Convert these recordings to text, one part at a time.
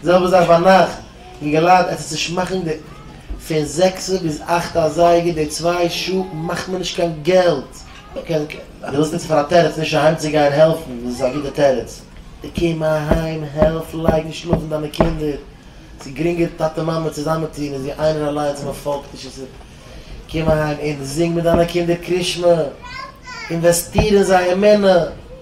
די זעלבע זאך ביינאכט, ווי געלייט עטס נישט מאכן די פון זעקסע ביז אכטע אזייגער די צוויי שעה מאכט מען נישט קיין געלט, אז די ווילסט נוצן פאר א תירוץ נישט אהיים צו גיין העלפן איז עס א גוטע תירוץ, די קום אהיים העלף לייגן שלאפן דיינע קינדער, ס'איז גרינגער טאטע מאמע צוזאמען טון איז ווי איינער אליינס ווען מען פאלגט נישט איז קום אהיים און זינג מיט דיינע קינדער קרישמע, אינוועסטיר אין זיי אמונה.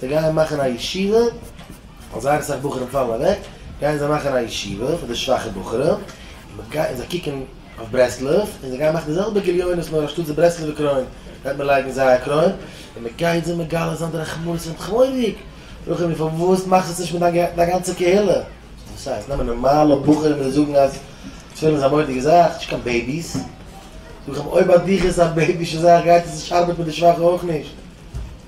זיי גייען מאכן א ישיבה ווייל זייער אסאך בחורים פאלן אוועק, גייען זיי מאכן א ישיבה פאר די שוואכע בחורים, און זיי קוקן אויף ברסלב, און זיי גייען מאכן די זעלבע גליונות נאר אנשטאט די ברסלב'ע קרוין וועט מען לייגן זייער קרוין, און מען גייט זיי מגלה זיין די רחמנות פון תחמוריג, רחמ י פארוואס מאכסט עס נישט מיט דיין גאנצע קהילה? וואס הייסט? נעמען נארמאלע בחורים און זאגן אז תפילין איז א מורא'דיגע זאך, נישט קיין בעיביס, זאג איך אים אויב ביי דיך איז עס א בעיבישע זאך גייט עס נישט ארבעטן מיט די שוואכע אויך נישט.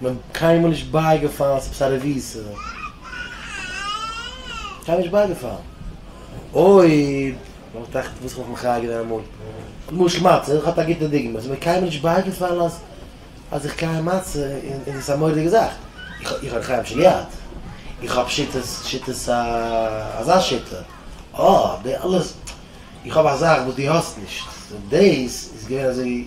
מען קיינמאל נישט בייגעפאלן ס'איז עפעס א רבי'ס קיינמאל נישט בייגעפאלן אויב מען האט עכט וואס כ'האב מיך מחיה געווען אמאל למשל מצה איך האב א גוטע דוגמא ס'איז מיר קיינמאל נישט בייגעפאלן אז אז איך קייען מצה און און ס'איז א מורא'דיגע זאך איך האב חיים שלי יד איך האב שיטות שיטות א אזא שיטה אה די אלעס איך האב א זאך וואס דו האסט נישט דאס איז געווען אזוי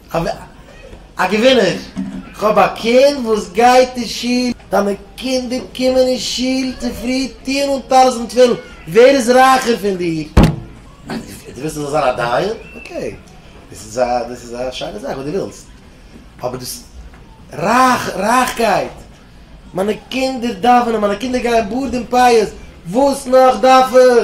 א געווינער! כ'האב א קינד וואס גייט אין שול. דיינע קינדער קומען אין שול צופרי, טוען אן טלית און תפילין, ווער איז רייכער פון דיר? דו ווילסט איך זאל זיין א דיין? אקעי, דאס איז א דאס איז א שיינע זאך וואס דו ווילסט, אבער דאס רייך רייכקייט, מיינע קינדער דאווענען, מיינע קינדער גייען בארד און פאות, וואס נאך דארף איך?